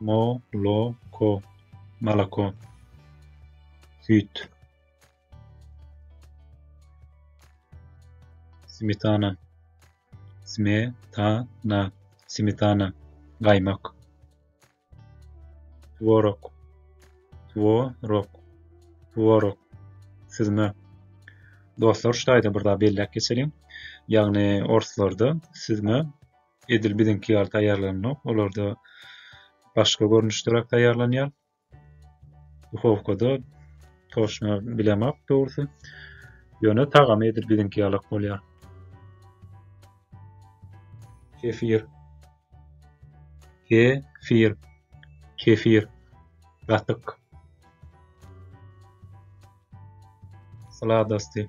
Mo-lo-ko, moloko, süýt. Smetana, sme-ta-na, smetana, gaýmak. Tworog, two-rok, tworog, süzme. Dostlar, şu taýda bir zat belläp geçeliň. Ýagny orslarda süzme edil biziňki ýaly taýýarlanylok. Olarda başga görnüşderäk taýýarlanýar. Duhowkada toşna bilemok dogrusy. Ýöne tagamy edil biziňki ýalak bolýar. Kefir. Kefir. Kefir. Gatyk. Sladasty.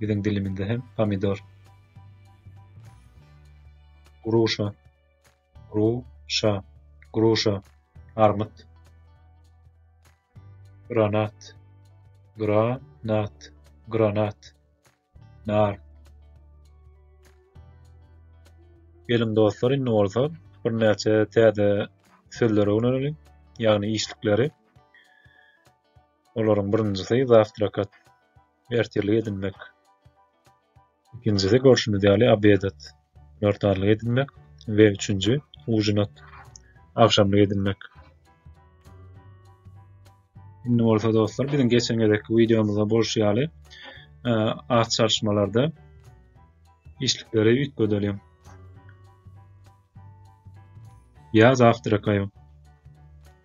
Biziň dilimizde hem pomidor. Gruşa. Gruşa. Gruşa. Armyt. Granat. Granat. Granat. Nar. Geliň dostlar, indi bolsa bir näçe täze sözlere öwreniň, ýagny işlikleri. Olaryň birinjisi zawtrakat, ertirlik edinmek. Ikinjisi görşümiz ýaly obedat, günortanlyk edinmek we üçünji ujinat, agşamlyk edinmek. Indi bolsa dostlar, biziň geçen gezekki wideomyzda bolşy ýaly, e, at çalyşmalarda işlikleri üýtgedelim. Ýa zawtrakaýym.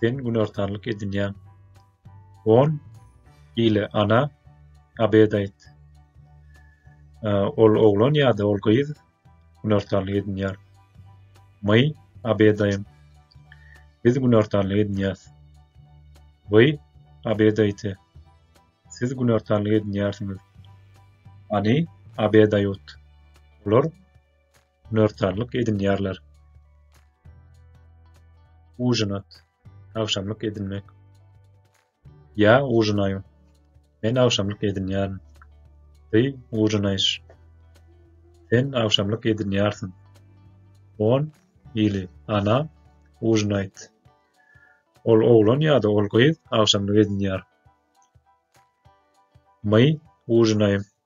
Sen günortanlyk edinýäň. On ile ana abed aýt. Ol oglan ýa-da ol gyz günortanlyk edinýär. My abedaýym. Biz günortanlyk edinýäs. Wy abedaýte. Siz günortanlyk edinýärsiňiz. Ani abedaýut. Olar Nörtarlyk edinýärler. Ujinat. Agşamlyk edinmek. Ýa ujinaýu. Men agşamlyk edinýärin. Ty ujinaýş. Sen agşamlyk edinýärsiň. On ili ana ujinaýt. Ol oglan ýa-da ol gyz agşamlyk edinýär. My ujinaýym.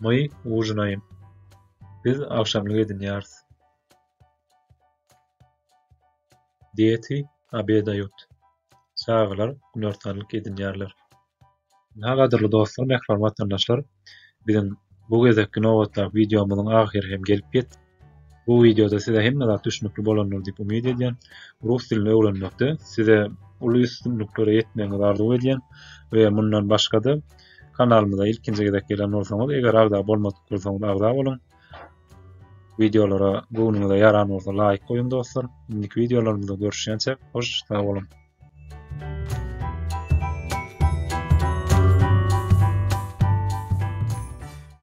My ujinaýym. Biz agşamlyk edinýäris. Deti obedaýut. Çagalar günortanlyk edinýärler. Ynha gadyrly dostlar, mähriban watandaşlar, biziň bu gezekki nobatdaky wideomyzyň ahyry hem gelip ýetdi. Bu wideoda size hemme zat düşnükli bolandyr diýip umyt edýän. Rus dilini öwrenmekde size uly üstünliklere ýetmegiňizi arzuw edýän we mundan başga-da kanalymyza ilkinji gezek gelen bolsaňyz, eger agza bolmadyk bolsaňyz agza boluň. Wideolara göwnüňize ýaran bolsa laýk goýuň dostlar. Indiki wideolarymyzda görüşýänçä hoş sag boluň.